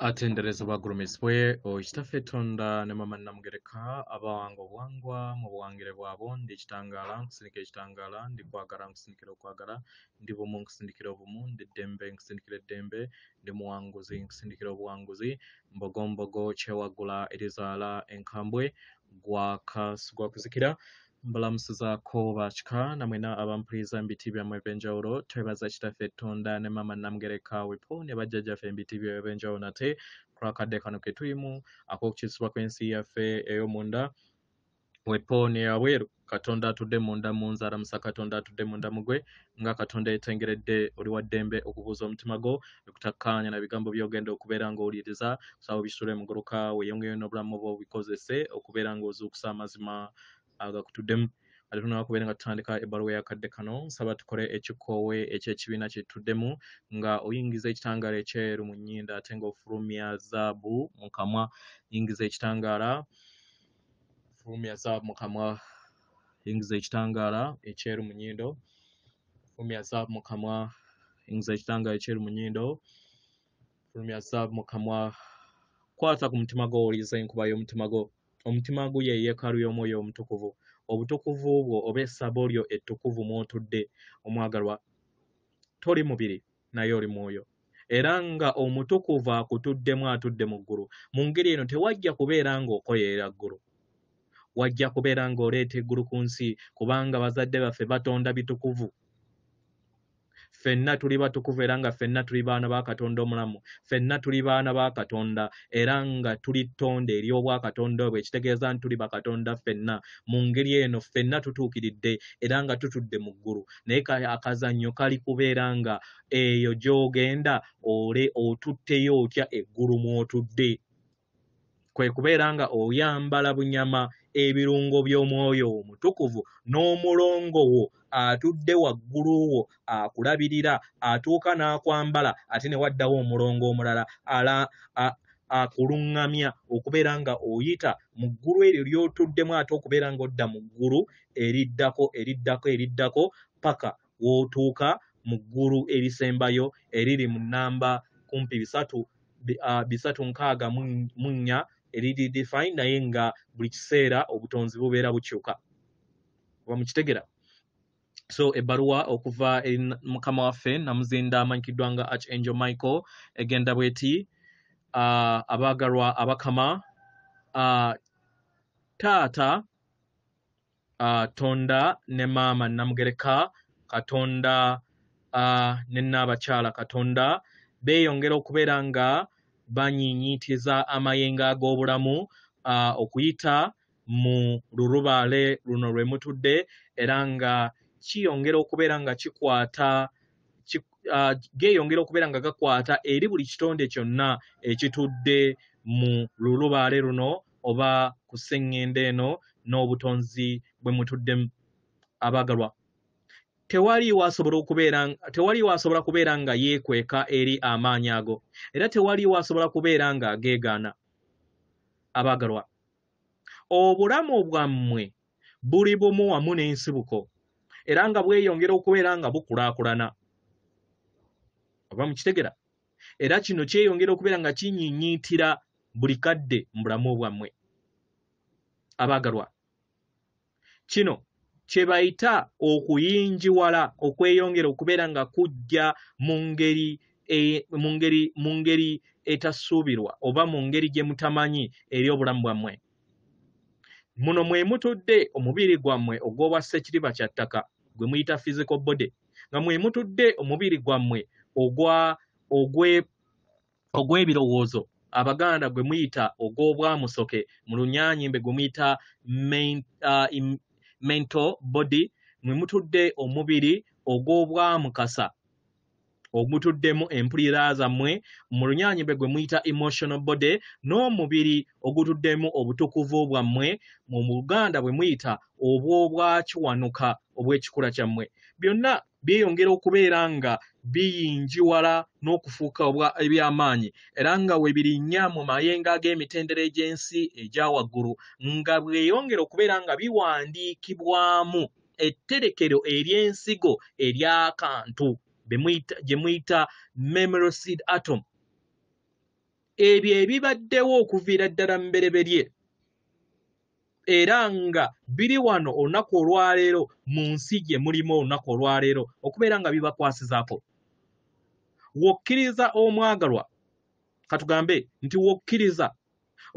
atendereza obwagulumizi bwe oyo kitaffe tonda ne mama namugereka abawanga obwangwa mu buwangire bwabo ndi ekitangaala nkusindikira ekitangaala ndi kwagala nkusindikira okwagala ndi bumu nkusindikira obumu ndi ddembe nkusindikira eddembe ndi muwanguzi nkusindikira obuwanguzi mbogombogo kyewagula erizaala enkambwe gwakuzikira Mbulamusizaako ba kika na mwena abampuliza mu biti byammwe eby'enjawulo. Twebaza Kitaffe Ttonda ne Maama Namugereka Wipo ne Bajjajjaffe mu biti byabwe eby'enjawulo nate kulwakadde kano ketulimu ak'okukyusibwa kw'ensi yaffe ey'omunda Wipo ne yabweru. Katonda atudde munda mu nze aramusa Katonda atudde munda mugwe nga Katonda yetengeredde oli wa ddembe okubuuza omutima gwo okutakkaanya na bigambo by'ogenda okubeera ng'owuliriza kusaba obisitule muguluka weyongeyo n'obulamu bwo obikozese okubeera ng'ozuukusa amazima agakutuddemu ate tunaba kubeera nga tutandika ebbaluwa yakadde kano nsaba tukole ekikoowe ekyekibiina kyetutuddemu nga oyingiza ekitangaala ekyeru mu nyinda ate nga ofulumya zaabu mu kamwa yingiza ekitangaala fulumya zaabu mu kamwa yingiza ekitangaala ekyeru mu nyindo fulumya zaabu mu kamwa yingiza ekitangaala ekyeru mu nyindo fulumya zaabu mu kamwa kwata ku mutima gwo owuliriza enkuba y'omutima gwo Omutima gwo ye yeekaalu y'Omwoyo Omutukuvu. Obutukuvu bwo oba essabo lyo ettukuvu mw'otudde, omwagalwa, toli mubiri, naye oli Mwoyo. Era nga Omutukuvu akutuddemu atudde mu ggulu, mu ngeri eno tewajja kubeera ng'okoyerera ggulu. Wajja kubeera ng'oleeta eggulu ku nsi, kubanga bazadde baffe Batonda bitukuvu. ffenna tuli batukuvu era nga ffenna tuli baana ba katonda omulamu ffenna tuli baana ba katonda era nga tuli ttonde ery'obwakatonda obwo ekitegeeza nti tuli bakatonda ffenna mu ngeri eno ffenna tutuukiridde era nga tutudde mu ggulu naye akazannyo kali kubeera nga eyo gy'ogenda ole otutteyo otya eggulu mw'otudde kwe kubeera nga oyambala bunyama ebirungo by'omwoyo wo mutukuvu n'omulongo wo atudde waggulu wo akulabirira atuuka n'akwambala ate ne waddawo omulongo omulala ala akuluŋŋamya okubeera nga oyita mu ggulu eryo ly'otuddemu ate okubeera ng'odda mu ggulu eriddako eriddako eriddako paka w'otuuka mu ggulu erisembayo eriri mu nnamba kumpi bisatu uh, bisatu nkaaga mu nnya eriri define naye nga buli kiseera obutonzi bubeera bukyuka oba mukitegera so ebbaluwa okuva eri mukama waffe namuzinda amanyikiddwa nga arch angel michael egenda bweti uh, abaagalwa abakama uh, taata uh, tonda ne maama namugereka katonda uh, ne naabakyala katonda beeyongera okubeera nga banyiinyiitiza amayengo ag'obulamu uh, okuyita mu lulubaale luno lwe mutudde era nga kiyongera okubeera nga kikwata uh, geeyongera okubeera nga gakwata eri buli kitonde kyonna ekitudde mu lulubaale luno oba ku sseŋŋendo eno n'obutonzi bwe mutuddemu abaagalwa tewaliwo asobola okubeera tewaliwo asobola kubeera nga yeekweka eri amaanyi ago era tewaliwo asobola kubeera nga ageegaana abaagalwa obulamu bwammwe buli bumu wamu n'ensibuko era nga bweyongera okubeera nga bukulaakulana oba mukitegera era kino kyeyongera okubeera nga kinyinyiitira buli kadde mu bulamu obwammwe abaagalwa kino kye bayita okuyingiwala okweyongera okubeera nga kujja mu ngeri e, mu ngeri mu ngeri etasuubirwa oba mu ngeri gye mutamanyi eri obulamu bwammwe muno mwe mutudde omubiri gwammwe ogw'obwa ssekiriba kya ttaka gwe muyita physical body nga mwe mutudde omubiri gwammwe ogwa ogwe ogw'ebirowoozo abaganda gwe muyita ogw'obwamusoke mu lunyanyimbe gwe muyita uh, mental body mwe mutudde omubiri ogw'obwamukasa ogutuddemu empulira zammwe mu lunyanyimbe gwe muyita emotional body n'omubiri ogutuddemu obutukuvu bwammwe mu buganda bwe muyita obw'obwa Kiwanuka obw'ekikula kyammwe byonna byeyongera okubeera nga biyingiwala n'okufuuka obwa eby'amaanyi era nga we birinnya mu mayengo ag'emitendera egy'ensi egya waggulu nga bweyongera okubeera nga biwandiikibwamu etterekero ery'ensigo ery'akantu gye muyita memory seed atom ebyo ebibaddewo okuviira ddala mu bereberye era nga biri wano olunaku olwaleero mu nsi gye mulimu olunaku olwaleero okubeera nga bibakwasizaako wokkiriza omwagalwa katugambe nti wokkiriza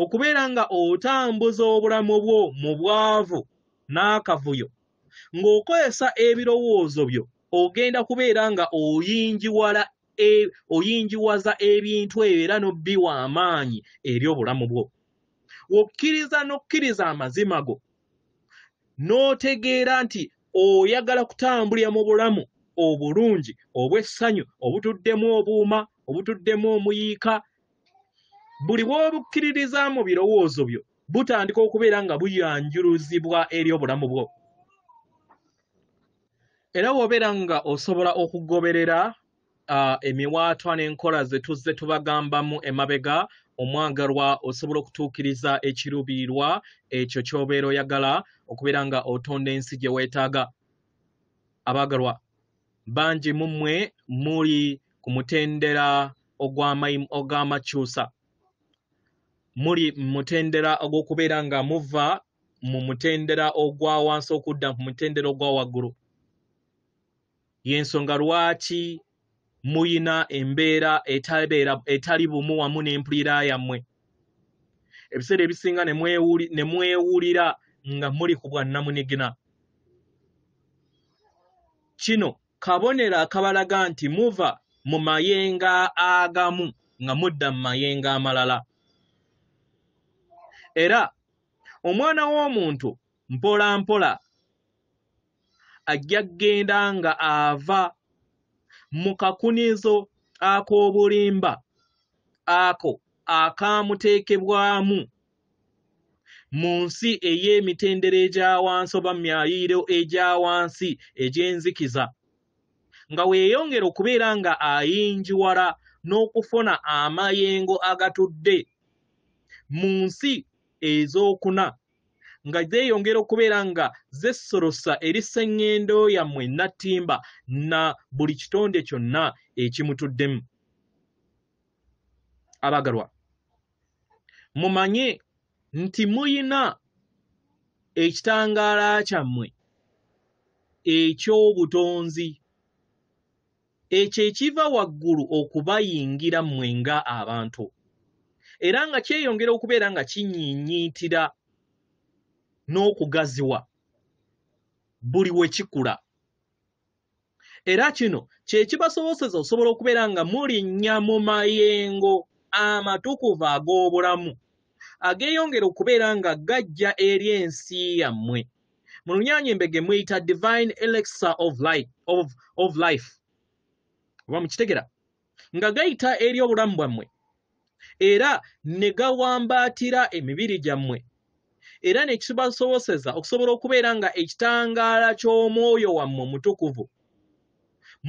okubeera nga otambuza obulamu bwo mu bwavu n'akavuyo ng'okozesa ebirowoozo byo ogenda kubeera nga oyingiwala e, oyingiwaza ebintu ebyo era n'obbiwa amaanyi eri obulamu bwo wokkiriza n'okkiriza amazima go n'otegeera nti oyagala kutambulira mu bulamu obulungi obw'essanyu obutuddemu obuuma obutuddemu omuyiika buli bw'obukkiririza mu birowoozo byo butandika okubeera nga buyanjuluzibwa eri obulamu bwo era wobeera nga osobola okugoberera uh, emiwaatwa n'enkola ze tuzze tubagambamu emabega omwagalwa osobola okutuukiriza ekirubiirwa ekyo ky'obeera oyagala okubeera nga otonda ensi gye weetaaga abaagalwa bangi mu mmwe muli ku mutendera ogw'amakyusa muli mutendera ogw'okubeera nga muva mu mutendera ogwa wansi okudda ku mutendera ogwa waggulu y'ensonga lwaki muyina embeera etali bumu wamu n'empulira yammwe ebiseera ebisinga ne mwewulira nga muli ku bwannamunigina kino kabonero akabalaga nti muva mu mayenga agamu nga mudda mu mayenga amalala era omwana w'omuntu mpola mpola ajja kugenda nga ava mu kakunizo ak'obulimba ako akaamuteekebwamu mu nsi ey'emitendera egya wansi oba mu myayiro egya wansi egy'enzikiza nga weeyongera okubeera nga ayingiwala n'okufuna amayengo agatudde mu nsi ez'okuna nga zeeyongera okubeera nga zessolosa eri sseŋŋendo yammwe nattimba na buli kitonde kyonna ekimutuddemu abagalwa mumanye nti muyina ekitangaala kyammwe eky'obutonzi ekyo ekiva waggulu okubayingira mmwe nga abantu era nga kyeyongera okubeera nga kinyiinyiitira n'okugaziwa buli we kikula era kino kye kibasoboseza osobola okubeera nga mulinnya mu mayengo amatukuvu ag'obulamu ageeyongera okubeera nga gajja eri ensi yammwe mu lunyaanya embege muyita divine elixir of life, of, of life. oba mukitegera nga gayita eri obulamu bwammwe era ne gawambaatira emibiri gyammwe era ne kibasoboseza okusobola okubeera nga ekitangaala ky'omwoyo wammwe omutukuvu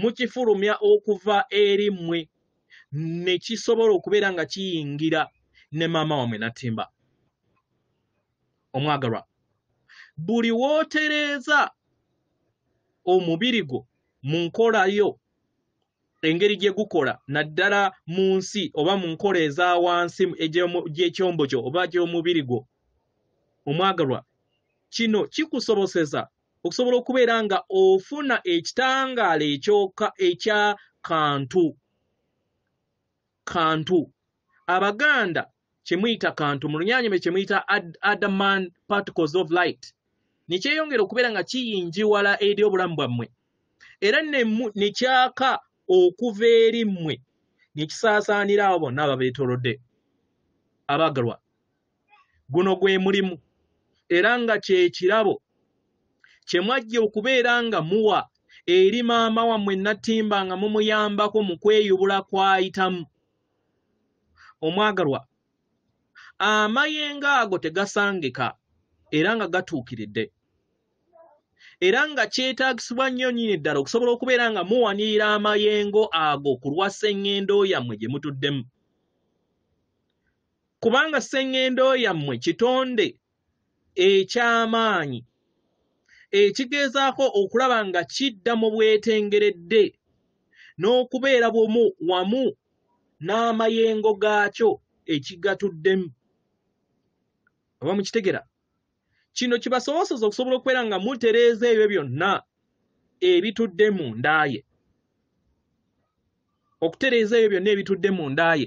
mukifulumya okuva eri mmwe ne kisobola okubeera nga kiyingira ne maama wammwe natimba omwagalwa buli wootereeza omubiri gwo mu nkola yo engeri gye gukola naddala mu nsi oba mu nkola eza wansi gy'ekyombo kyo oba gy'omubiri gwo omwagalwa kino kikusoboseza okusobola okubeera nga ofuna ekitangaala ekyoka ekya kantu kantu abaganda kyemuyita kantu mu lunyanyime kyemuyita adaman particles of light nekyeyongera okubeera nga kiyinjiwala eri obulamu bwammwe era nekyaka okuva eri mmwe nekisaasaanira abo bonna ababeetolodde abaagalwa guno gwe mulimu era nga kye kirabo kye mwajja okubeera nga muwa eri maama wammwe natimba nga mumuyambako mu kweyubula kwayitamu omwagalwa amayengo ago tegasangika era nga gatuukiridde era nga kyetaagisibwa nnyo nyini ddala okusobola okubeera nga muwanirira amayengo ago ku lwa sseŋŋendo yammwe gye mutuddemu kubanga sseŋŋendo yammwe kitonde eky'amaanyi ekigeezaako okulaba nga kidda mu bwetengeredde n'okubeera bumu wamu n'amayengo gaakyo ekigatuddemu oba mukitegera kino kibasoboseza okusobola okubeera nga mutereeza ebyo byonna ebitudde mu ndaaye okutereeza ebyo byonna ebitudde mu ndaaye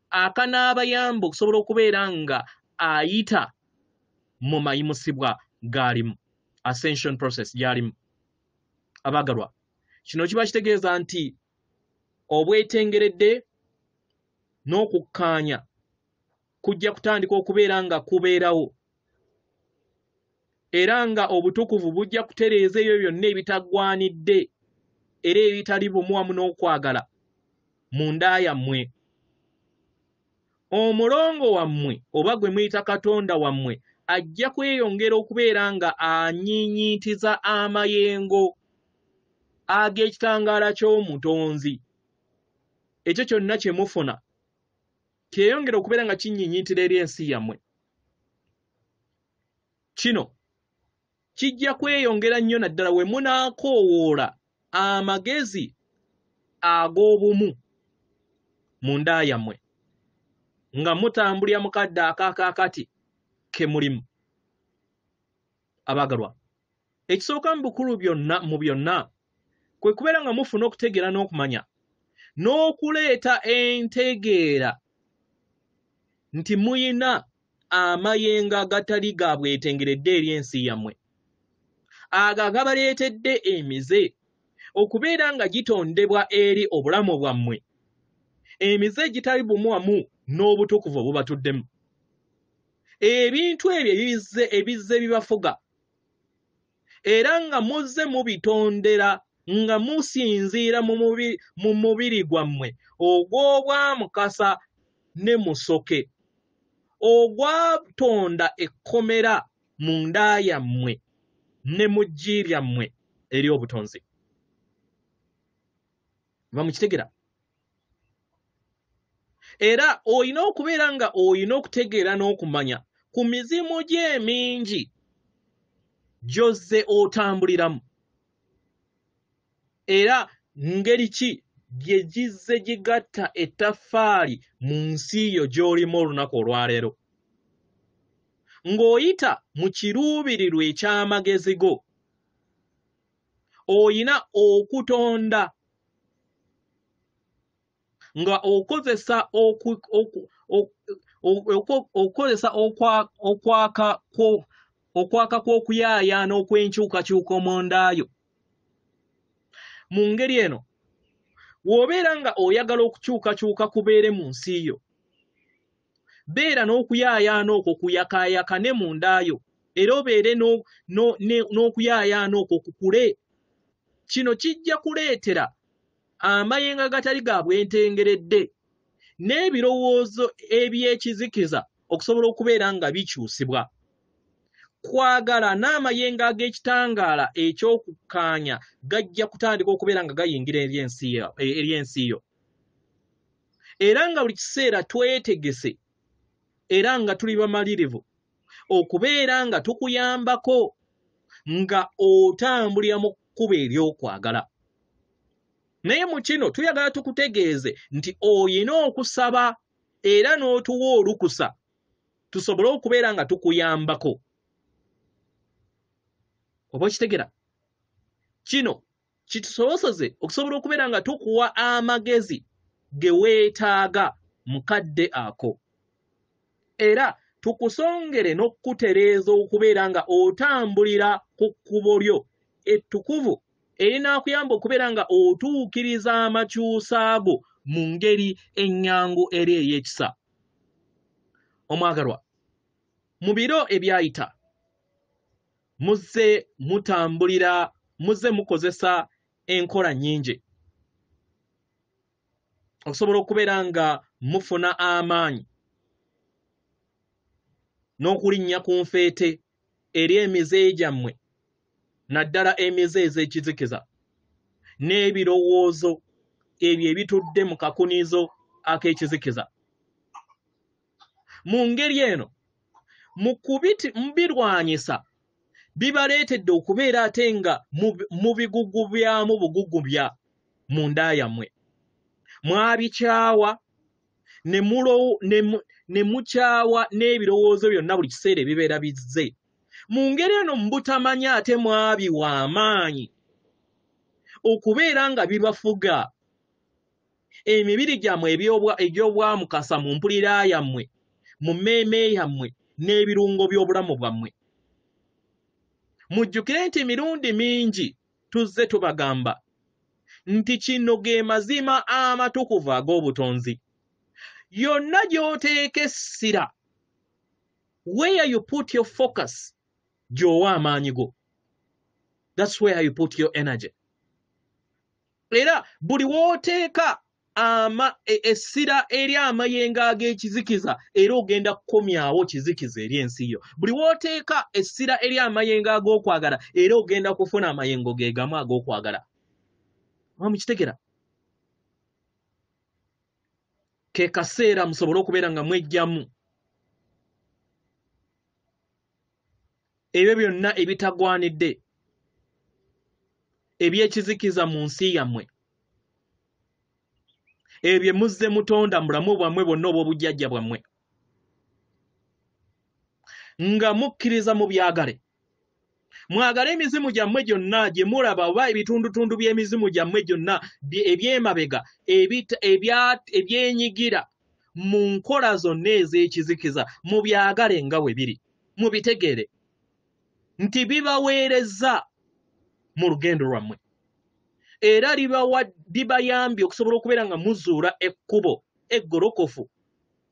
akanaabayamba okusobola okubeera nga ayita mu mayimusibwa gaalimu ascension process gyalimu abaagalwa kino kiba kitegeeza nti obwetengeredde n'okukkaanya kujja kutandika okubeera nga kubeerawo era nga obutukuvu bujja kutereeza ebyo byonna ebitaggwanidde era ebitali bumu wamu n'okwagala mu nda yammwe omulongo wammwe oba gwe muyita katonda wammwe ajja kweyongera okubeera nga anyiinyiitiza amayengo ag'ekitangaala ky'omutonzi ekyo kyonna kye mufuna kyeyongera okubeera nga kinyiinyiitira eri ensi yammwe Kino kijja kweyongera nnyo naddala we munaakoowoola amagezi ag'obumu mu nda yammwe nga mutambulira mu kadde akaakaakati ke mulimu abaagalwa ekisooka mu bukulu byonna mu byonna kwe kubeera nga mufuna okutegeera n'okumanya n'okuleeta entegeera nti muyina amayengo agatali ga bwetengeredde eri ensi yammwe ago agabaleetedde emize okubeera nga gitondebwa eri obulamu bwammwe emize egitali bumu wamu n'obutukuvu obubatuddemu ebintu ebyo ebizze ebizze bibafuga era nga muzze mubitondera nga musinziira mu mubiri gwammwe ogw'obwamukasa ne musoke ogwatonda ekkomera mu nda yammwe ne mu ggi lyammwe eri obutonzi va mukitegera era olina okubeera nga olina okutegeera n'okumanya ku mizimu gye emingi gy'ozze otambuliramu era ngeri ki gye gizze gigatta ettaffaali mu nsi yo gy'olimu olunaku olwaleero ng'oyita mu kiruubirirwa eky'amagezi go oyina okutonda nga okozesa okukozesa okwaka kw'okuyaayaana okw'enkyukakyuka omundaayo mu ngeri eno w'obeera nga oyagala okukyukakyuka kubeere mu nsi yo beera n'okuyaayaana okwo kuyakaayaka ne mu ndaayo era obeere n'okuyaayaana okwo kukule kino kijja kuleetera amayengo agatali ga bwentengeredde n'ebirowoozo eby'ekizikiza okusobola okubeera nga bikyusibwa kwagala n'amayengo ag'ekitangaala eky'okukkaanya gajja kutandika okubeera nga gayingira eri ensi yo era nga buli kiseera twetegese era nga tuli bamalirivu okubeera nga tukuyambako nga otambulira mu kkuba ery'okwagala naye mu kino tuyagala tukutegeeze nti oyina okusaba era n'otuwa olukusa tusobole okubeera nga tukuyambako oba okitegera kino kitusoboseze okusobola okubeera nga tukuwa amagezi ge weetaaga mu kadde ako era tukusongere n'okukutereeza okubeera nga otambulira ku kkubo lyo ettukuvu erinaakuyamba okubeera nga otuukiriza amakyusa go mu ngeri ennyangu era ey'ekisa omwagalwa mu biro ebyayita muzze mutambulira muzze mukozesa enkola nnyingi okusobola okubeera nga mufuna amaanyi n'okulinnya ku nfeete eri emize gyammwe naddala emize ez'ekizikiza n'ebirowoozo ebyo ebitudde mu kakunizo ak'ekizikiza mu ngeri eno mu kubirwanyisa bibaleetedde okubeera ate nga mu bigugu byamu bugugu bya mu nda yammwe mwabikyawa ne mukyawa n'ebirowoozo byonna buli kiseera ebibeera bizze mu ngeri eno mu butamanya ate mwabiwa amaanyi okubeera nga bibafuga emibiri gyammwe egy'obwamukasa mu mpulira yammwe mu mmeeme yammwe n'ebirungo by'obulamu bwammwe mujjukire nti emirundi mingi tuzze tubagamba nti kino ge mazima amatukuvu ag'obutonzi yonna gy'oteeka essira where you put your focus gy'owa amaanyi go that's where you put your energy era buli w'oteeka ama e, essira eri amayengo ag'ekizikiza era ogenda kukomyawo kizikiza eri ensi yo buli w'oteeka essira eri amayengo ag'okwagala era ogenda kufuna amayengo ge gamu ag'okwagala oba mukitegera ke kaseera musobole okubeera nga mwejjamu ebyo byonna ebitagwanidde ebyekizikiza mu nsi yammwe ebyo bye muzze mutonda mulamu bwammwe bwonna obw'obujjajja bwammwe nga mukkiriza mu byagale mwagale emizimu gyammwe gyonna gye mulaba oba ebitundutundu by'emizimu gyammwe gyonna eby'emabega ebyenyigira mu nkola zonna ez'ekizikiza mu byagale nga we biri mubitegere nti bibaweereza mu lugendo lwammwe era bibayambye okusobola okubeera nga muzuula ekkubo eggolokofu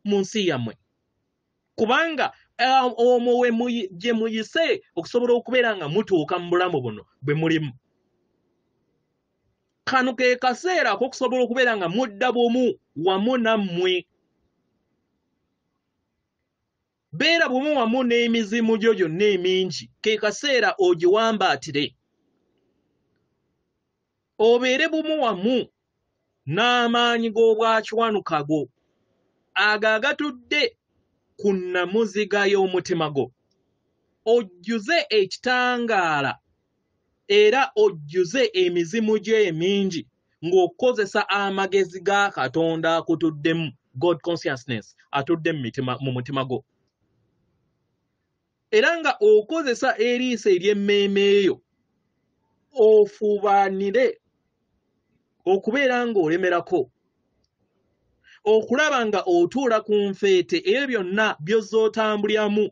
mu nsi yammwe kubanga um, omwo gye muyise okusobola okubeera nga mutuuka mu bulamu buno bwe mulimu kano ke kaseera akokusobola okubeera nga mudda bumu wamu nammwe beera bumu wamu n'emizimu gyo gyonna emingi ke kaseera ogiwambaatire obeere bumu wamu n'amaanyi g'obwakiwanuka go ago agatudde ku nnamuziga y'omutima gwo ojjuze ekitangaala era ojjuze emizimu gyo emingi ng'okukozesa amagezi ga katonda akutuddemu god consciousness atudde mu mutima gwo era nga okozesa eriiso ery'emmeeme eyo ofubaanire okubeera ng'olemerako okulaba nga otuula ku nfeete ebyo byonna byozza otambulyamu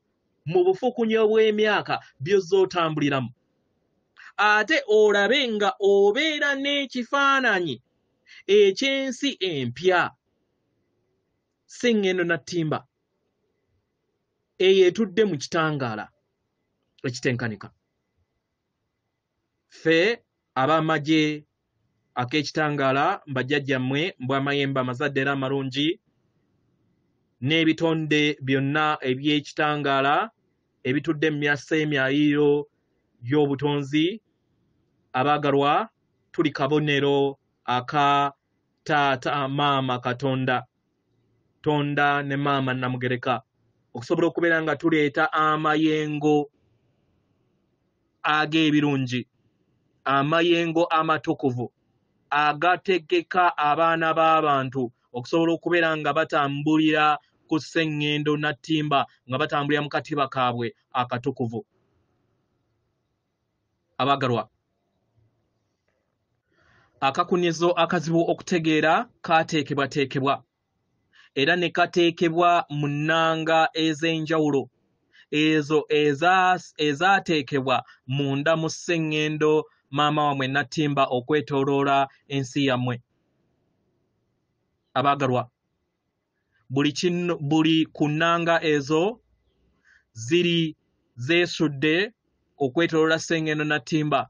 mu bufukunya obw'emyaka by'ozze otambuliramu ate olabe nga obeera n'ekifaananyi eky'ensi empya si ŋŋendo na ttimba eyo etudde mu kitangaala ekitenkanika Ffe ab'amagye ak'ekitangaala, bajjajjammwe, mbu amayembe amazadde era amalungi, n'ebitonde byonna eby'ekitangaala ebitudde mu myasa emyaliiro gy'obutonzi, abaagalwa, tuli kabonero aka Taata Maama Katonda, Tonda ne Maama Nnamugereka, okusobola okubeera nga tuleeta amayengo. ag'ebirungi amayengo amatukuvu agategeka abaana b'abantu okusobola okubeera nga batambulira ku sseŋŋendo nattimba nga batambulira mu katiba kaabwe akatukuvu abagalwa akakunizo akazibu okutegeera kaateekebwateekebwa era ne kateekebwa mu nnanga ez'enjawulo ezo ezaateekebwa munda mu sseŋŋendo maama wammwe nattimba okwetooloola ensi yammwe abaagalwa buli kino buli ku nnanga ezo ziri zeesudde okwetooloola sseŋŋendo nattimba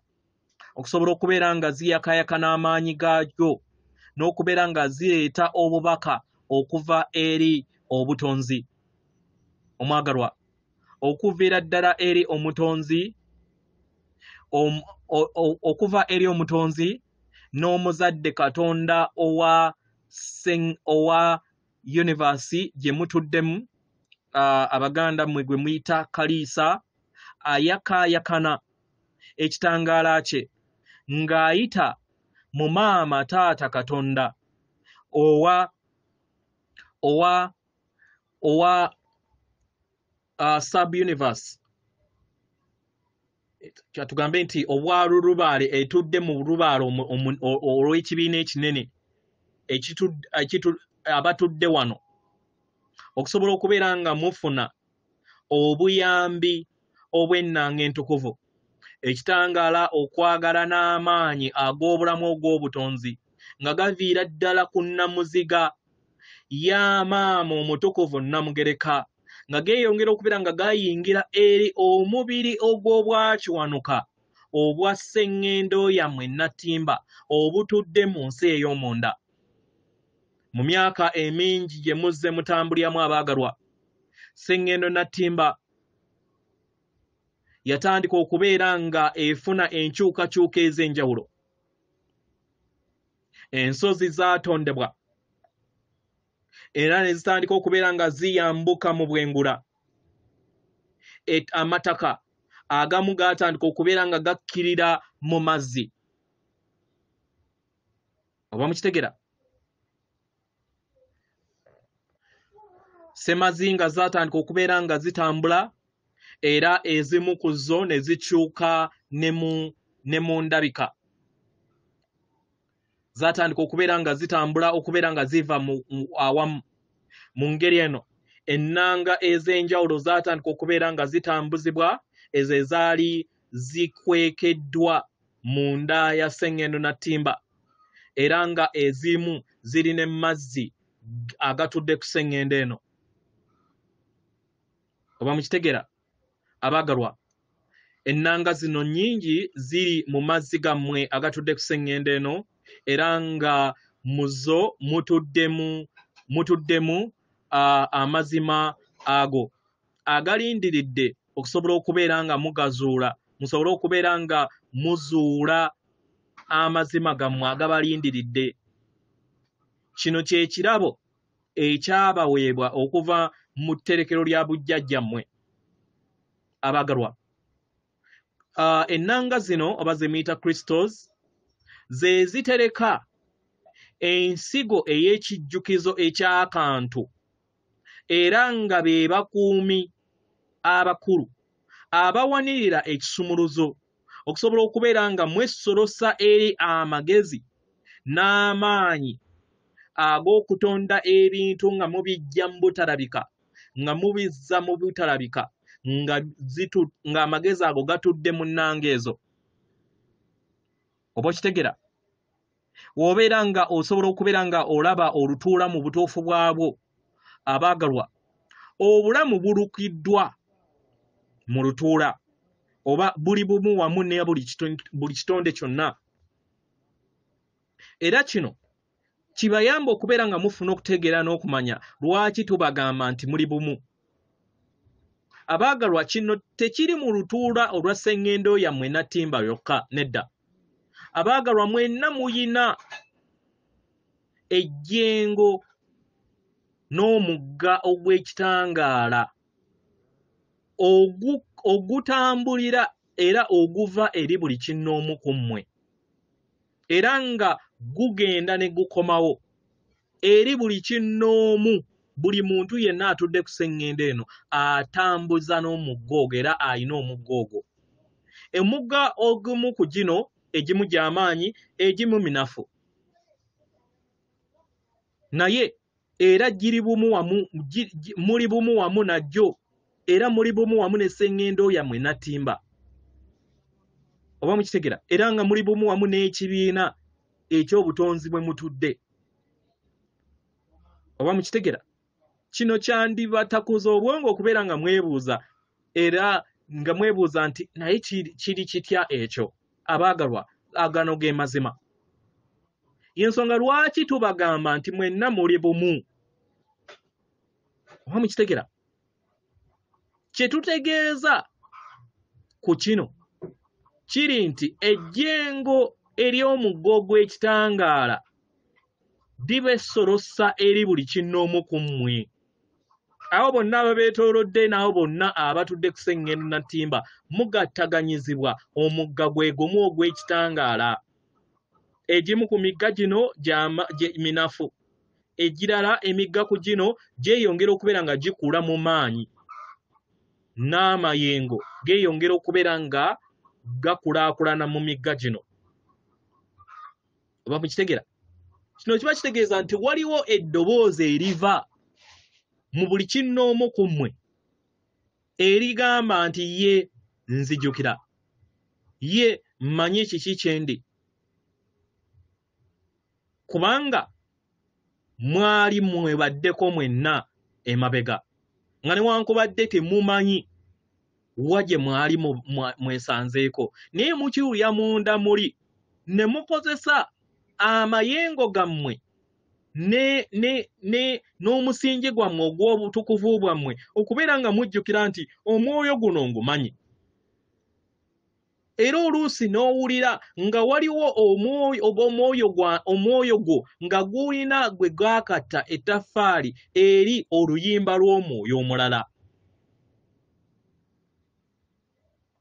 okusobola okubeera nga ziyakayaka n'amaanyi gaagyo n'okubeera nga zireeta obubaka okuva eri obutonzi omwagalwa okuviira ddala eri omutonzi okuva eri omutonzi n'omuzadde katonda owa owa univasi gye mutuddemu abaganda mwe gwe muyita kaliisa ayakaayakana ekitangaala kye ng'ayita mu maama taata katonda owa owa owa uh, sub universe kyatugambe nti obwalulubaale etudde mu lubaale olw'ekibiina ekinene abatudde wano okusobola okubeera nga mufuna obuyambi obw'ennanga entukuvu, ekitangaala okwagala n'amaanyi ag'obulamu ogw'obutonzi nga gaviira ddala ku nnamuziga ya maama omutukuvu Nnamugereka nga geeyongera okubeera nga gayingira eri omubiri ogw'obwakiwanuka obwa sseŋŋendo yammwe Nattimba obutudde mu nsi ey'omunda. mu myaka emingi gye muzze mutambuliramu abaagalwa sseŋŋendo nattimba yatandika okubeera nga efuna enkyukakyuka ez'enjawulo ensozi zaatondebwa era ne zitandika okubeera nga ziyambuka mu bwengula amataka agamu gaatandika okubeera nga gakkirira mu mazzi oba mukitegera semazinga zatandika okubeera nga zitambula era ezimu ku zo ne zikyuka ne mu ndabika zatandika okubeera nga zitambula okubeera nga ziva awamu mu ngeri eno ennanga ez'enjawulo zatandika okubeera nga zitambuzibwa ezo ezaali zikwekeddwa mu nda ya sseŋŋendo na ttimba era nga ezimu ziri ne mazzi agatudde ku sseŋŋendo eno oba mukitegera abaagalwa ennanga zino nnyingi ziri mu mazzi gammwe agatudde ku sseŋŋendo eno era nga mu zo mutuddemu mutuddemu amazima ago agalindiridde okusobola okubeera nga mugazuula musobole okubeera nga muzuula amazima gammwe agabalindiridde kino kye kirabo ekyabaweebwa okuva mu tterekero lya bujjajjammwe abaagalwa uh, ennanga zino oba zemiyita crystals ze zitereka ensigo ey'ekijjukizo eky'akantu era nga be bakuumi abakulu abawanirira ekisumuluzo okusobola okubeera nga mwesolosa eri amagezi n'amaanyi ag'okutonda ebintu nga mubijja mu butalabika nga mubizza mu butalabika nga zitu nga amagezi ago gatudde mu nnanga ezo oba okitegera wobeera nga osobola okubeera nga olaba olutuula mu butuufu bwabwo abaagalwa obulamu bulukiddwa mu lutuula oba buli bumu wamu ne buli kitonde kyonna era kino kibayamba okubeera nga mufuna okutegeera n'okumanya lwaki tubagamba nti muli bumu abaagalwa kino tekiri mu lutuula olwa sengendo yammwe nattimba yokka nedda abaagalwa mwenna muyina ejjengo n'omugga ogw'ekitangaala ogutambulira era oguva eri buli kinnoomu ku mmwe era nga gugenda ne gukomawo eri buli kinnoomu buli muntu yenna atudde ku seŋŋendo eno atambuza n'omugga ogwo era alina omugga ogwo emugga ogumu ku gino egimu gy'amaanyi egimu minafu naye era giri bumu wamu muli bumu wamu najjo era muli bumu wamu ne sengendo yamwe natimba oba mukitegera era nga muli bumu wamu n'ekibiina ekyobutonzi bwe mutudde oba mukitegera kino kyandibatakuza obwongo okubeera nga mwebuuza era nga mwebuuza nti naye kiri kitya ekyo abaagalwa agano ge mazima yensonga lwaki tubagamba nti mwenna muli bumu oba mukitegera kyetutegeeza ku kino kiri nti ejjengo ery'omuggo gw'ekitangaala diba essolossa eri buli kinnoomu ku mmwe abo bonna ababeetoolodde n'abo bonna abatudde ku seŋŋendo na ttimba mugattaganyizibwa omugga gwe gumu ogw'ekitangaala egimu ku migga gino minafu egirala emigga ku gino gyeyongera okubeera nga gikula mu maanyi n'amayengo geeyongera okubeera nga gakulaakulana mu migga gino oba mukitegera kino kiba kitegeeza nti waliwo eddoboozi eriva mu buli kinnoomu ku mmwe erigamba nti ye nzijukira ye mmanyi kiki kyendi kubanga mwali mwebaddeko mwenna emabega nga newankubadde temumanyi wa gye mwali mwesanzeeko naye mukiwulira munda muli ne mukozesa amayengo gammwe n'omusingi gwammwe ogw'obutukuvu bwammwe okubeera nga mujjukira nti omwoyo guno ngumanyi era oluusi n'owulira nga waliwo omwoyo gwo nga gulina gwe gaakatta ettaffaali eri oluyimba lw'omwoyo omulala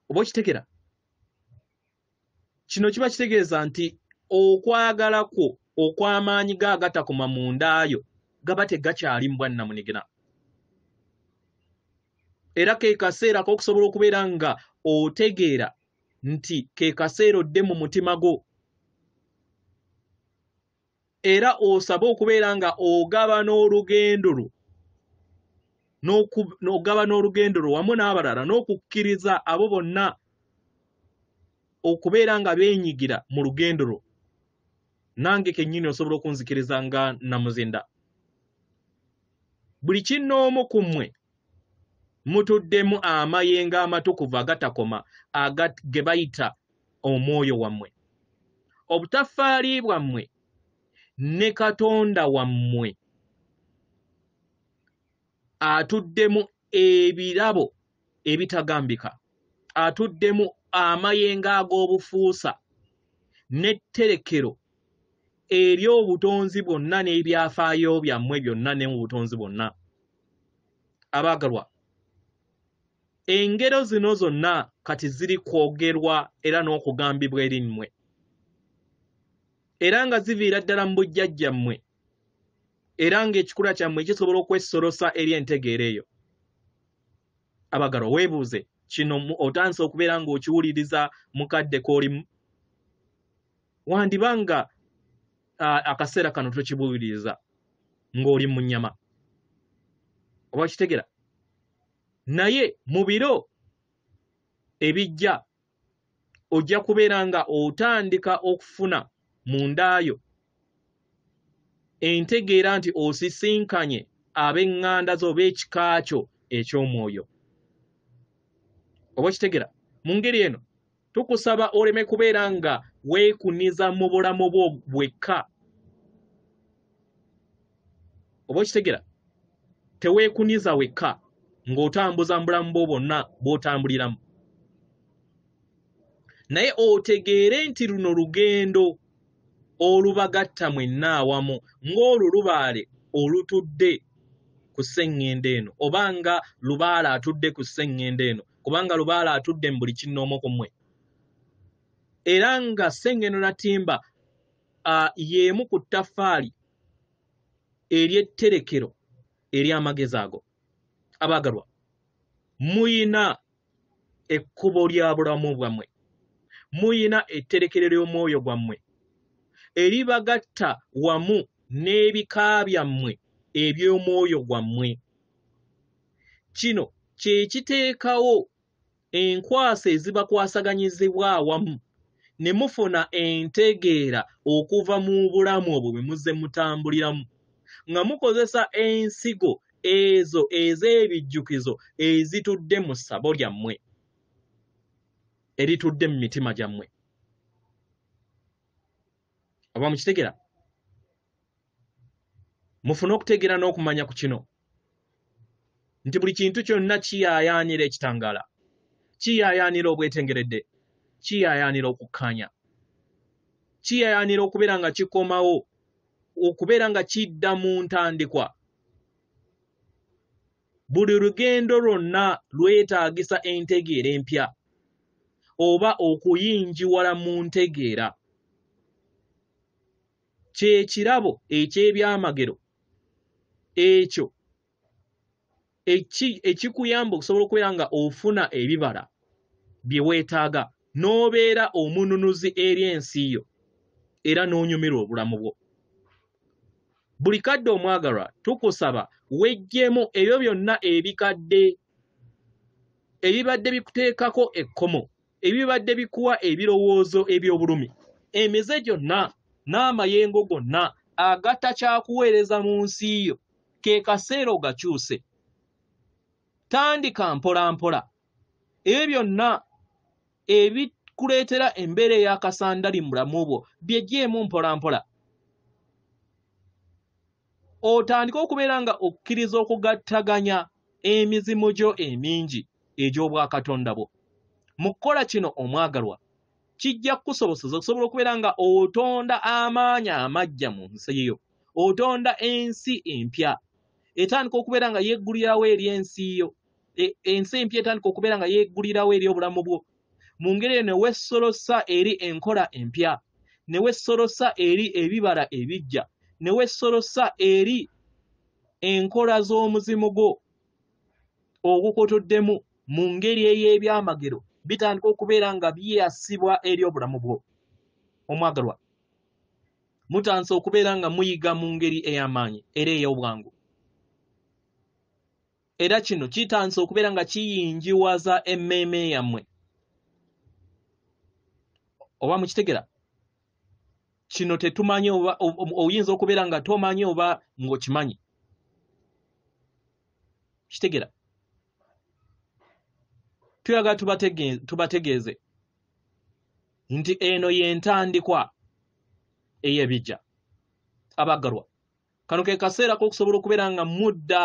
oba okitegera kino kiba kitegeeza nti okwagala kwo okw'amaanyi ga agatakoma mu ndaayo gaba tegakyali mbwannamunigina era ke kaseera k'okusobola okubeera nga otegeera nti ke kaseera odde mu mutima gwo era osabe okubeera nga ogaba n'olugendo lwo n'ogaba n'olugendo lwo wamu n'abalala n'okukkiriza abo bonna okubeera nga beenyigira mu lugendo lwo nange kennyini osobola okunzikiriza nga namuzinda buli kinnoomu ku mmwe mutuddemu amayengo amatukuvu agatakoma aga ge bayita omwoyo wammwe obutafaali bwammwe ne katonda wammwe atuddemu ebirabo ebitagambika atuddemu amayengo ag'obufuusa n'etterekero eri obutonzi bwonna n'ebyafaayo byammwe byonna ne mu butonzi bwonna abaagalwa engero zino zonna kati ziri kwogerwa era n'okugambibwa eri mmwe era nga ziviira ddala mu bujjajjammwe era ng'ekikula kyammwe kisobola okwesolosa eri entegeera eyo abagalwa weebuuze kino otandise okubeera ng'okiwuliriza mukadde k'olimu wandiba nga akaseera kano tokibuuliriza ng'oli mu nnyama oba kitegera naye mu biro ebijja ojja kubeera nga otandika okufuna mu ndaayo entegeera nti osisinkanye ab'eŋŋanda zo oba ekika kyo eky'omwoyo oba okitegera mu ngeri eno tukusaba oleme kubeera nga weekuniza mu bulamu bwo bwekka oba okitegera teweekuniza wekka ng'otambuza mu bulamu bwo bwonna bw'otambuliramu naye otegeere nti luno lugendo olubagatta mwenna awamu ng'olwo lubaale olutudde ku sseŋŋendo eno oba nga lubaale atudde ku sseŋŋendo eno kubanga lubaale atudde mu buli kinnoomu ku mmwe era nga sseŋŋendo natimba y'emu ku ttaffaali ery'etterekero ery'amagezi ago abaagalwa muyina ekkubo lya bulamu bwammwe muyina etterekero ly'omwoyo gwammwe eribagatta wamu n'ebika byammwe eby'omwoyo gwammwe kino kye kiteekawo enkwaso ezibakwasaganyizibwa awamu ne mufuna entegeera okuva mu bulamu obwo bwe muzze mutambuliramu nga mukozesa ensigo ezo ez'ebijjukizo ezitudde mu ssabo lyammwe eritudde mu mitima gyammwe oba mukitegera mufune okutegeera n'okumanya ku kino nti buli kintu kyonna kiyaayaanira ekitangaala kiyaayaanira obwetengeredde kiyaayaanira okukkaanya kiyaayaanira okubeera nga kikomawo okubeera nga kidda mu ntandikwa buli lugendo lwonna lwetaagisa entegeera empya oba okuyingiwala mu ntegeera kyekirabo eky'ebyamagero ekyo ekikuyamba okusobola okubeera nga ofuna ebibala bye weetaaga n'obeera omununuzi eri ensi yo era n'onyumirwa obulamu bwo buli kadde omwagalwa tukusaba wejjemu ebyo byonna ebikadde ebibadde bikuteekako ekkomo ebibadde bikuwa ebirowoozo eby'obulumi emize gyonna n'amayengo gonna agatta kyakuweereza mu nsi yo ke kaseera ogakyuse tandika mpolampola ebyo byonna ebikuleetera embeera ey'akasandali mu bulamu bwo byegyemu mpolampola otandike okubeera nga okkiriza okugattaganya emizimu gyo emingi egy'obwakatonda bwo mu kukola kino omwagalwa kijja kukusoboseza okusobola okubeera nga otonda amaanyi amaggya mu nsi yo otonda ensi empya etandika okubeera nga yeggulirawo eri ensi yo e, ensi empya etandika okubeera nga yeggulirawo eri obulamu bwo mu ngeri eyo ne weesolosa eri enkola empya ne weesolosa eri ebibala ebiggya ne weesolosa eri enkola z'omuzimu gwo ogukutuddemu mu ngeri ey'ebyamagero bitandika okubeera nga byeyasibwa eri obulamu bwo omwagalwa mutandise okubeera nga muyiga mu ngeri ey'amaanyi era ey'obwangu era kino kitandise okubeera nga kiyingiwaza emmeeme yammwe oba mukitegera kino tetumanyi oba oyinza okubeera nga tomanyi oba ng'okimanyi kitegera tuyagala tubategeeze nti eno y'entandikwa ey'ebijja abaggalwa kano ke kaseera k'okusobola okubeera nga mudda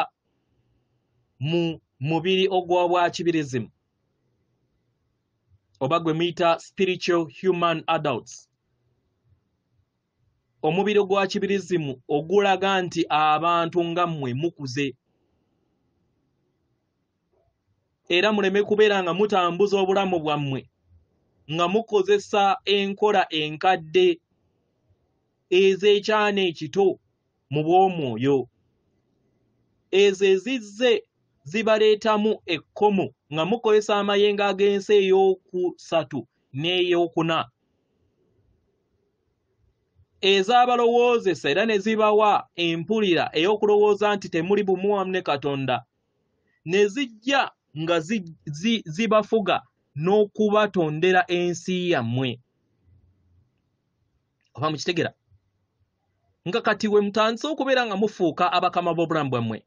mu mubiri ogwa bwa kibirizimu oba gwe muyita spiritual human adults omubiri ogwa kibirizimu ogulaga nti abantu nga mmwe mukuze era muleme kubeera nga mutambuza obulamu bwammwe nga mukozesa enkola enkadde ez'ekyana ekito mu bw'omwoyo ezo ezizze zibaleetamu ekkomo nga mukozesa amayengo ag'ensi ey'okusatu n'ey'okuna ezabalowoozesa era ne zibawa empulira ey'okulowooza nti temuli bumu wamu ne katonda ne zijja nga zibafuga n'okubatondera ensi yammwe oba mukitegera nga kati we mutandise okubeera nga mufuuka abakama b'obulamu bwammwe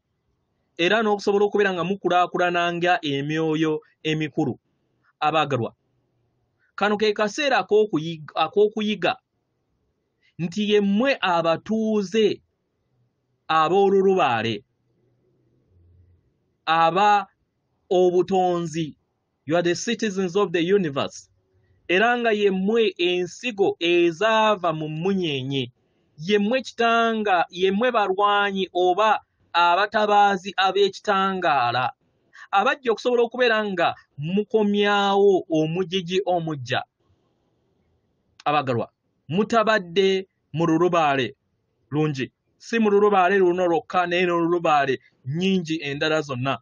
era n'okusobola okubeera nga mukulaakulana nga emyoyo emikulu abaagalwa kano ke kaseera ak'okuyiga nti yemmwe abatuuze ab'olulubaale aba obutonzi you are the citizens of the universe era nga yemmwe ensigo ezaava mu mmunyeenye yemmwe kitanga yemmwe balwanyi oba abatabaazi ab'ekitangaala abajja okusobola okubeera nga mukomyawo omujiji omujja abagalwa mutabadde mu lulubaale lungi si mu lulubaale luno lwokka naye nolulubaale nyingi endala zonna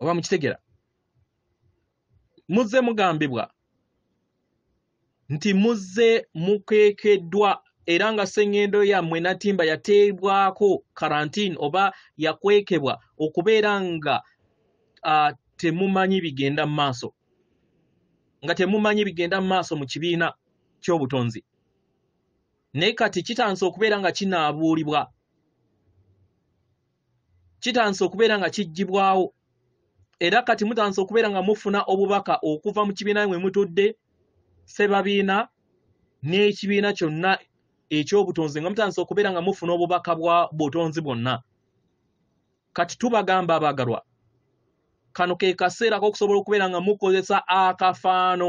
oba mukitegera muzze mugambibwa nti muzze mukwekeddwa era nga sengendo yammwe natimba yateebwako karantine oba yakwekebwa okubeera nga uh, temumanyi bigenda mu maaso nga temumanyi bigenda mu maaso mu kibiina ky'obutonzi naye kati kitandise okubeera nga kinaabuulibwa kitandise okubeera nga kiggyibwawo era kati mutandise okubeera nga mufuna obubaka okuva mu kibiina mwe mutudde ssebabiina n'ekibiina kyonna ekyobutonzi nga mutandise okubeera nga mufuna obubaka bwa butonzi bwonna kati tubagamba abagalwa kano ke kaseera kokusobola okubeera nga mukozesa akafaano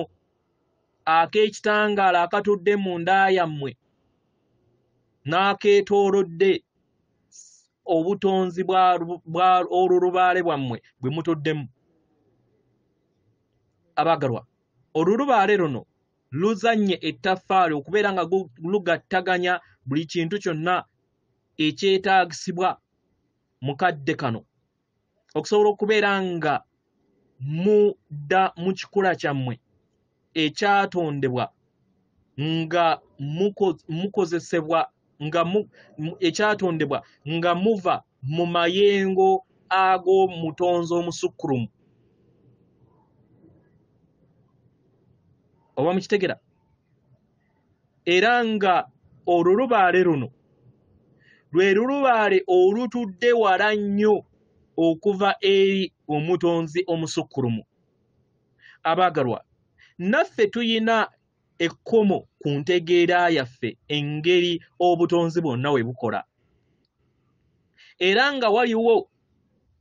ak'ekitangaala akatudde mu nda yammwe n'akeetoolodde obutonzi bwa olulubaale bwammwe bwe mutuddemu abagalwa olulubaale luno luzannye ettaffaali okubeera nga lugattaganya buli kintu kyonna ekyetaagisibwa mu kadde kano okusobola okubeera nga mudda mu kikula kyammwe ekyatondebwa nga mukozesebwa nga ekyatondebwa nga muva mu mayengo ag'omutonzi omusukkulumu oba mukitegera era nga olulubaale luno lwe lulubaale olutudde wala nnyo okuva eri omutonzi omusukkulumu abaagalwa naffe tuyina ekkomo ku ntegeera yaffe engeri obutonzi bwonna we bukola era nga waliwo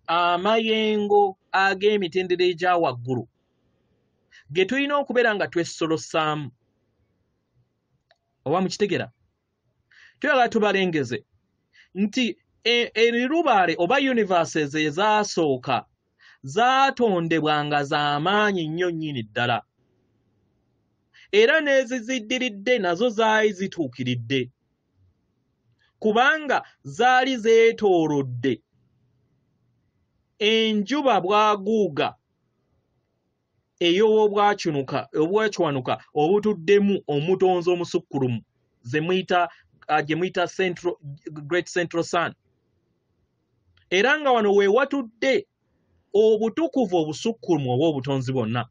amayengo ag'emitendera egya waggulu ge tulina okubeera nga twessolosaamu oba mukitegera tuyagala tubalengeze nti e, erirubaale oba universes ezaasooka zaatondebwa nga z'amaanyi nnyo nnyini ddala era n'eziziddiridde nazo zaali zituukiridde kubanga zaali zeetoolodde enjuba bwaguuga ey'obwacunuka obwacwanuka obutuddemu omutonzi omusukkulumu ze muyita uh, gye muyita central great central sun era nga wano we watudde obutukuvu obusukkulumu oba obutonzi bwonna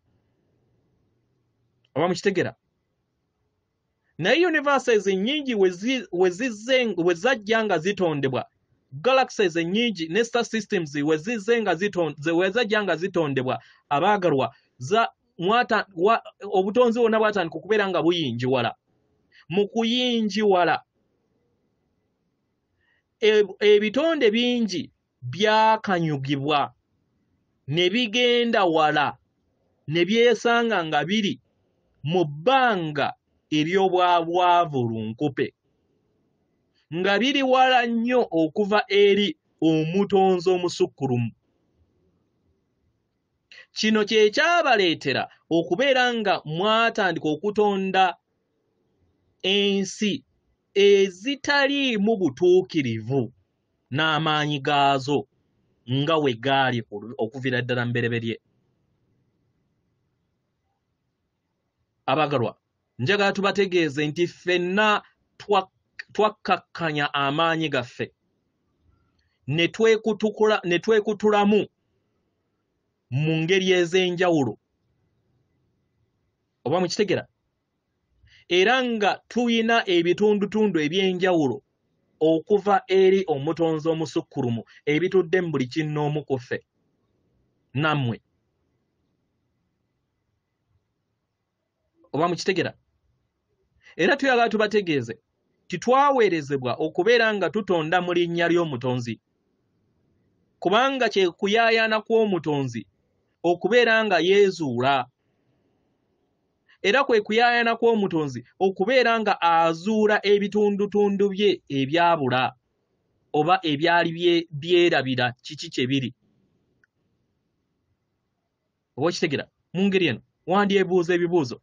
oba mukitegera naye universes nnyingi we zajja nga zitondebwa galaxies nnyingi ne star systems we zizze nga we zajja nga zitondebwa abaagalwa obutonzi bwonna bwatandika okubeera nga buyingiwala mu kuyingiwala e, ebitonde bingi byakanyugibwa ne bigenda wala ne byesanga nga biri mu bbanga ery'obwabwavu lunkupe nga biri wala nnyo okuva eri omutonzi omusukkulumu kino kye kyabaleetera okubeera nga mwatandika okutonda ensi ezitaliimu butuukirivu n'amaanyi gaazo nga we gaali okuviira ddala mubereberye abagalwa njagala tubategeeze nti ffenna twakkakkanya amaanyi gaffe ne twekutulamu mu ngeri ez'enjawulo oba mukitegera era nga tulina ebitundutundu eby'enjawulo okuva eri omutonzi omusukkulumu ebitudde mu buli kinnoomu ku ffe nammwe oba mukitegera era tuyagala tubategeeze titwaweerezebwa okubeera nga tutonda mu linnya ly'omutonzi kubanga kye kuyaayaana kw'omutonzi okubeera nga yeezuula era kwe kuyaayana kw'omutonzi okubeera nga azuula ebitundutundu bye ebyabula oba ebyali byerabira kiki kye biri oba okitegera mu ngeri eno wandyebuuza ebibuuzo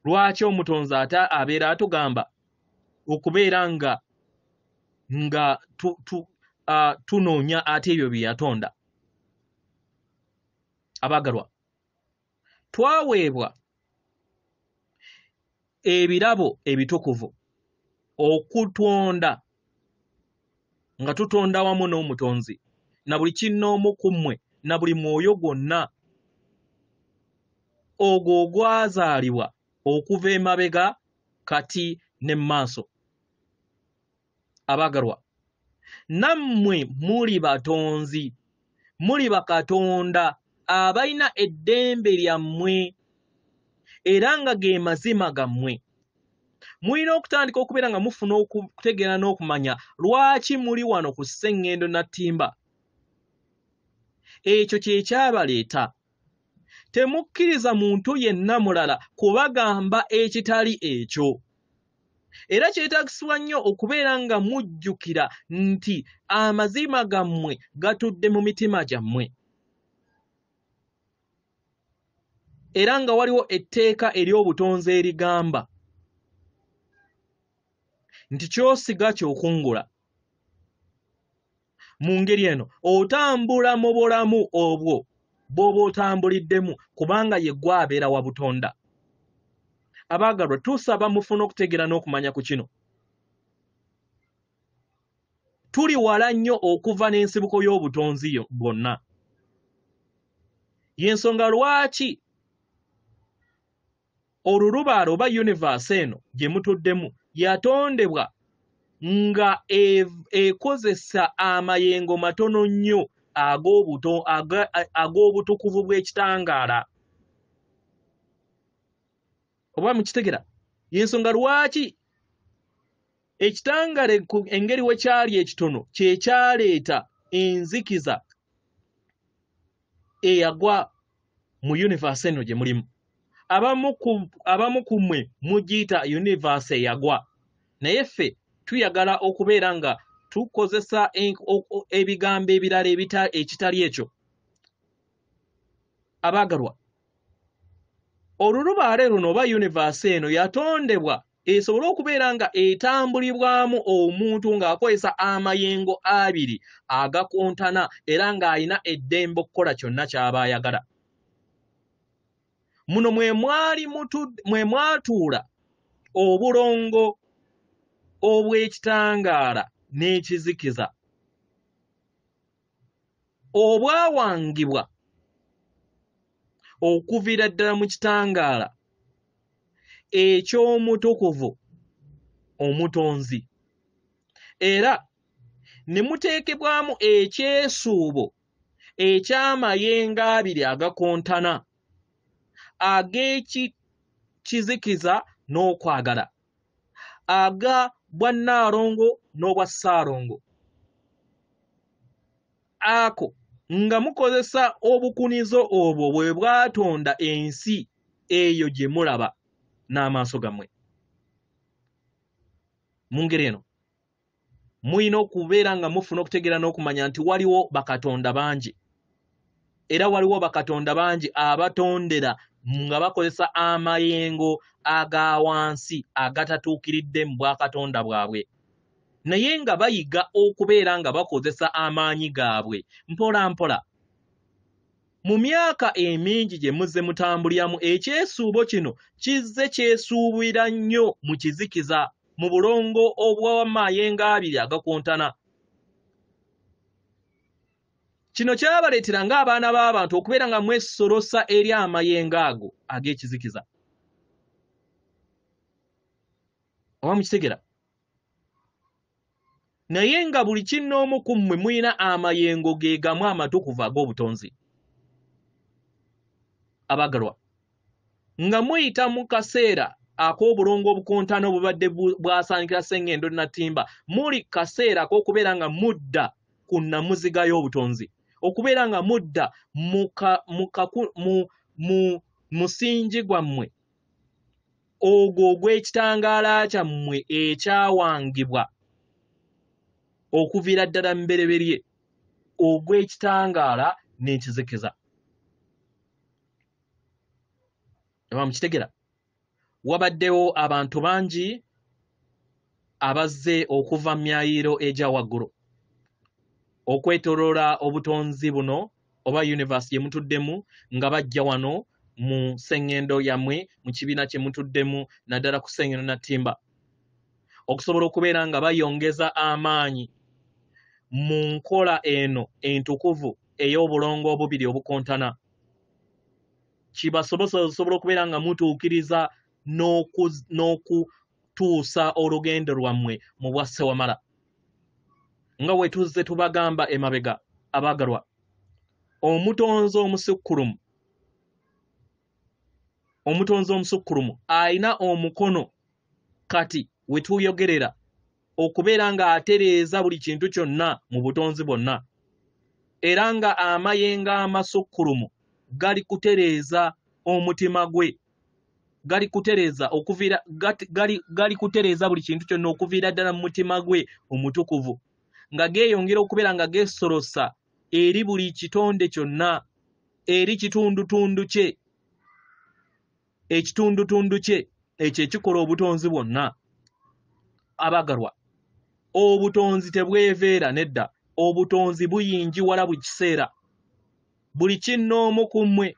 lwaki omutonzi ate abeera atugamba okubeera nga nga tunoonya ate ebyo bye yatonda abaagalwa twaweebwa ebirabo ebitukuvu okutonda nga tutonda wamu n'omutonzi na buli kinnoomu ku mmwe na buli mwoyo gwonna ogwo ogwazaalibwa okuva emabega kati ne mu maaso abaagalwa nammwe muli batonzi muli bakatonda abalina eddembe lyammwe era nga ge mazima gammwe mulina okutandika okubeera nga mufuna okutegeera n'okumanya lwaki muli wano ku sseŋŋendo nattimba ekyo kye kyabaleeta Temukkiriza muntu yenna mulala kubagamba ekitali ekyo. Era kyetagisibwa nnyo okubeera nga mujjukira nti amazima gammwe gatudde mu mitima gyammwe. Era nga waliwo etteeka ery'obutonzi erigamba nti kyosiga kyokungula. mu ngeri eno otambula mu bulamu obwo bw'oba otambuliddemu kubanga ye gwe abeera wa butonda abaagalwa tusaba mufuna okutegeera n'okumanya ku kino tuli wala nnyo okuva n'ensibuko y'obutonzi bwonna y'ensonga lwaki olulubaale oba yunivasi eno gye mutuddemu yatondebwa nga e-, ekozesa amayengo matono nnyo ag'obutukuvu bw'ekitangaala oba mukitegera yensonga lwaki ekitangale engeri we kyali ekitono kye kyaleeta enzikiza eyagwa mu universe eno gye mulimu abamu ku mmwe mugiyita universe eyagwa naye ffe tuyagala okubeera nga tukozesa ebigambo ebirala ekitali ekyo abaagalwa olulubaale luno oba universe eno yatondebwa esobole okubeera nga etambulibwamu omuntu ng'akozesa amayengo abiri agakontana era ng'alina eddembe okukola kyonna ky'aba ayagala muno mwe mwali mwe mwatuula obulongo obw'ekitangaala n'ekizikiza obwawangibwa okuviira ddala mu kitangaala eky'omutukuvu omutonzi era ne muteekebwamu ekyesuubo eky'amayengo abiri agakontana ag'ekizikiza n'okwagala aga bwa nnaalongo n'obwa ssaalongo ako nga mukozesa obukunizo obwo bwe bwatonda ensi eyo gye mulaba n'amaaso gammwe mu ngeri eno mulina okubeera nga mufuna okutegeera n'okumanya nti waliwo bakatonda bangi era waliwo bakatonda bangi abatondera nga bakozesa amayengo aga wansi agatatuukiridde mu bwakatonda bwabwe naye nga bayiga okubeera nga bakozesa amaanyi gaabwe mpola mpola Mu myaka emingi gye muzze mutambuliramu, ekyesuubo kino kizze kyesuubira nnyo mu kizikiza, mu bulongo obw'amayengo abiri agakontana. Kino kyabaleetera ng'abaana b'abantu okubeera nga mwesolosa eri amayengo ago ag'ekizikiza. Oba mukitegera? naye nga buli kinnoomu ku mmwe mulina amayengo ge gamu amatukuvu ag'obutonzi abagalwa nga muyita mu kaseera ak'obulongo obukontana obubadde bwasaanikira sengendo natimba muli kaseera ak'okubeera nga mudda ku nnamuziga y'obutonzi okubeera nga mudda mu musingi gwammwe ogwo ogw'ekitangaala kyammwe ekyawangibwa okuviira ddala mubereberye ogw'ekitangaala n'ekizikiza aba mukitegera wabaddewo abantu bangi abazze okuva mu myayiro egya waggulu okwetoloola obutonzi buno oba universe gye mutuddemu nga bajja wano mu sseŋŋendo yammwe mu kibiina kye mutuddemu naddala ku sseŋŋendo na ttimba okusobola okubeera nga bayongeza amaanyi mu nkola eno entukuvu ey'obulongo obubiri obukontana kibasobose osobola okubeera nga mutuukiriza okutuusa olugendo lwammwe mu bwa ssewamala nga we tuzze tubagamba emabega abaagalwa omutonzi omusukkulumu omutonzi omusukkulumu alina omukono kati we tuyogerera okubeera ng'atereeza buli kintu kyonna mu butonzi bwonna era nga amayenga amasukkulumu gali kutereeza omutima gwe gali kutereeza okuviira gali, gali kutereeza buli kintu kyonna okuviira ddala mu mutima gwe omutukuvu nga geeyongera okubeera nga geesolosa eri buli kitonde kyonna eri kitundutundu kye ekitundutundu kye ekyo ekikola obutonzi bwonna abagalwa obutonzi tebweveera nedda obutonzi buyingiwala buli kiseera buli kinnoomu ku mmwe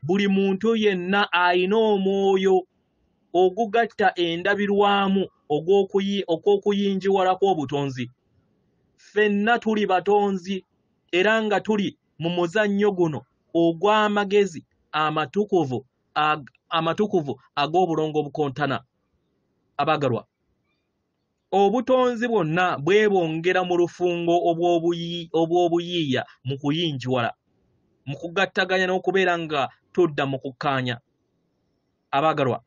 buli muntu yenna alina omwoyo ogugatta endabirwamu okw'okuyingiwalako obutonzi ffenna tuli batonzi era nga tuli mu muzannyo guno ogw'amagezi amatukuvu amatukuvu ag'obulongo obukontana abaagalwa Obutonzi bwonna bwebongera mu lufungo obw'obuyiiya mu kuyinjiwala, mu kugattaganya n'okubeera nga tudda mu kukkaanya. Abaagalwa,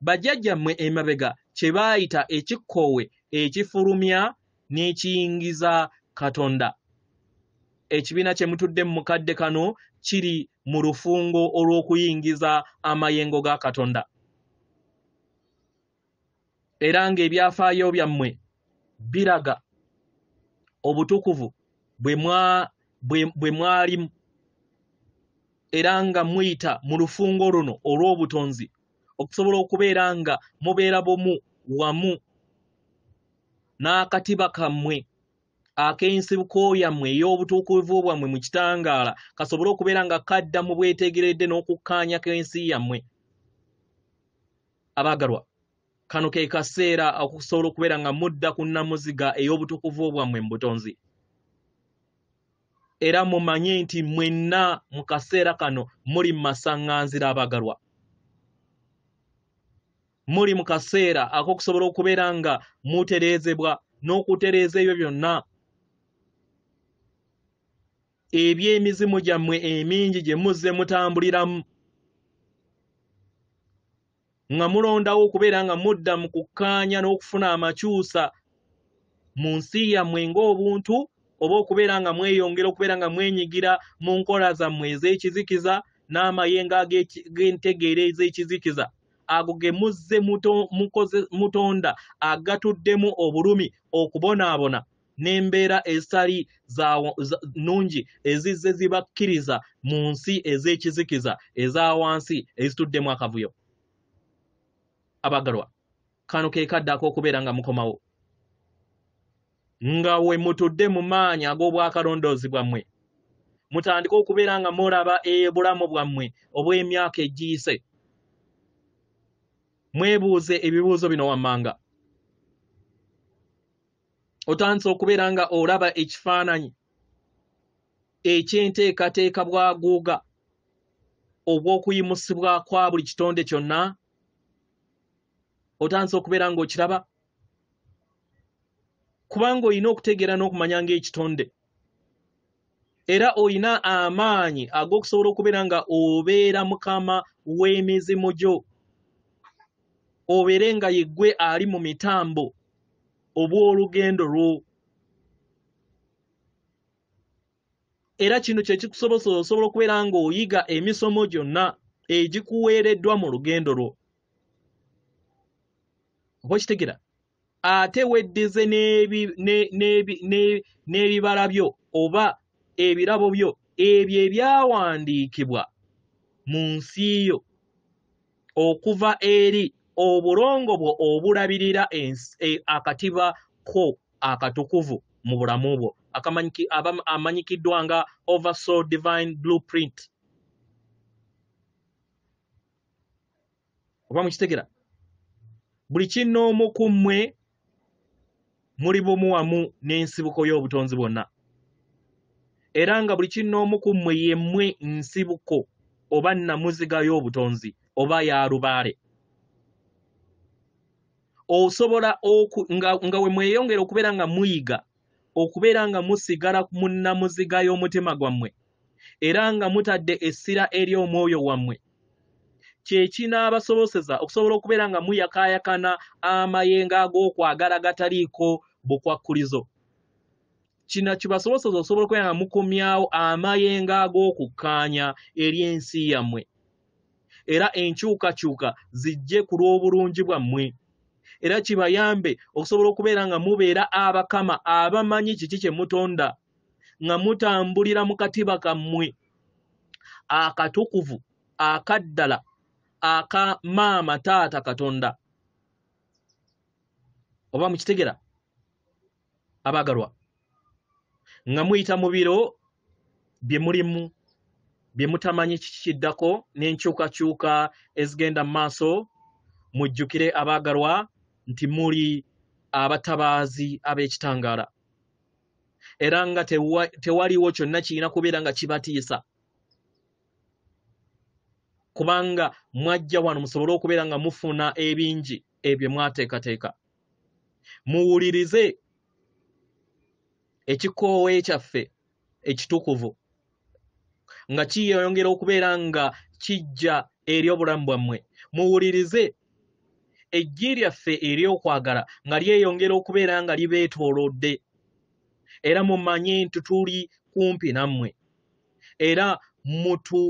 bajjajjammwe emabega kye baayita ekikkoowe ekifulumya n'ekiyingiza Katonda. Ekibiina kye mutudde mu kadde kano kiri mu lufungo olw'okuyingiza amayengo ga Katonda. era ng'ebyafaayo byammwe biraga obutukuvu bwe mwalimu era nga muyita mu lufungo luno olw'obutonzi okusobola okubeera nga mubeera bumu wamu n'akatiba kammwe ak'ensibuko yammwe ey'obutuukuvu bwammwe mu kitangaala kasobole okubeera nga kadda mu bwetegeredde n'okukkaanya k'ensi yammwe abaagalwa kano ke kaseera okusobola okubeera nga mudda ku nnamuziga ey'obutukuvu bwammwe mu butonzi era mumanye nti mwenna mu kaseera kano muli mu masaŋŋanzira abaagalwa muli mu kaseera ak'okusobola okubeera nga mutereezebwa n'okutereeza ebyo byonna eby'emizimu gyammwe emingi gye muzze mutambuliramu nga mulondawo okubeera nga mudda mu kukkaanya n'okufuna amakyusa mu nsi yammwe ng'obuntu oba okubeera nga mweyongera okubeera nga mwenyigira mu nkola zammwe ez'ekizikiza n'amayenga g'entegeera ez'ekizikiza ago ge muzze mutonda agatuddemu obulumi okubonaabona n'embeera ezitali nnungi ezizze zibakkiriza mu nsi ez'ekizikiza eza wansi ezituddemu akavuyo abagalwa kano ke kadde ak'okubeera nga mukomawo nga we mutudde mu maanyi ag'obwakalondoozi bwammwe mutandike okubeera nga mulaba ebulamu bwammwe obw'emyaka egiyise mwebuuze ebibuuzo bino wammanga otandise okubeera nga olaba ekifaananyi ekyenteekateeka bwaguuga obw'okuyimusibwa kwa buli kitonde kyonna otandise okubeera ng'okiraba kubanga olina okutegeera n'okumanya ng'ekitonde era olina amaanyi ag'okusobola okubeera nga obeera mukama w'emizimu gyo obeere nga yeggwe ali mu mitambo obw'olugendo lwo era kino kye kikusobozesa osobola okubeera ng'oyiga emisomo gyonna egikuweereddwa mu lugendo lwo oba okitegera ate weddize n'ebibala byo oba ebirabo byo ebyo ebyawandiikibwa mu nsi yo okuva eri obulongo bwo obulabirira e, akatiba ko akatukuvu mu bulamu bwo amanyikiddwa nga oversoul divine blueprint oba mukitegera buli kinoomu ku mmwe muli bumu wamu n'ensibuko y'obutonzi bwonna era nga buli kinoomu ku mmwe yemmwe nsibuko oba namuziga y'obutonzi oba ya lubaale osobola nga wemweyongera okubeera nga muyiga okubeera nga musigala mu nnamuziga y'omutima gwammwe era nga mutadde essira eri omwoyo wammwe kye kinaabasoboseza okusobola okubeera nga muyakaayakana amayengo ag'okwagala gataliiko bukwakkulizo kino kibasoboseza okusobola okubeera nga mukomyawo amayengo ag'okukkaanya eri ensi yammwe era enkyukakyuka zijje ku lw'obulungi bwammwe era kibayambe okusobola okubeera nga mubeera abakama abamanyi kiki kye mutonda nga mutambulira mu katiba kammwe akatukuvu akaddala aka maama taata katonda oba mukitegera abaagalwa nga muyita mu biro bye mulimu bye mutamanyi kiki kiddako n'enkyukakyuka ezigenda mu maaso mujjukire abaagalwa nti muli abatabaazi ab'ekitangaala era nga tewaliwo kyonna kirina kubeera nga kibatiisa kubanga mwajja wano musobole okubeera nga mufuna ebingi ebyo mwateekateeka muwulirize ekikoowe kyaffe ekitukuvu nga kiyeyongera okubeera nga kijja eri obulamu bwammwe muwulirize eggi lyaffe ery'okwagala nga lyeyongera okubeera nga libeetoolodde era mumanye nti tuli kumpi nammwe era mutu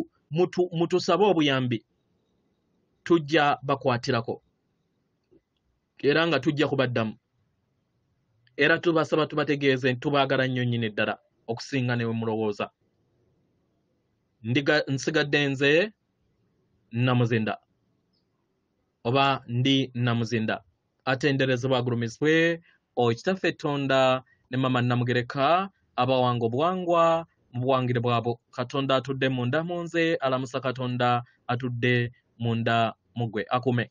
mutusabe obuyambi tujja bakwatirako era nga tujja kubaddamu era tubasaba tubategeeze nti tubaagala nnyo nnyini ddala okusinga ne we mulowooza nsigadde nze namuzinda oba ndi namuzinda atenderezebwa agulumizibwe okitaffe tonda ne mama namugereka abawanga obuwangwa mu buwangire bwabo katonda atudde munda mu nze alamusa katonda atudde munda mugwe akume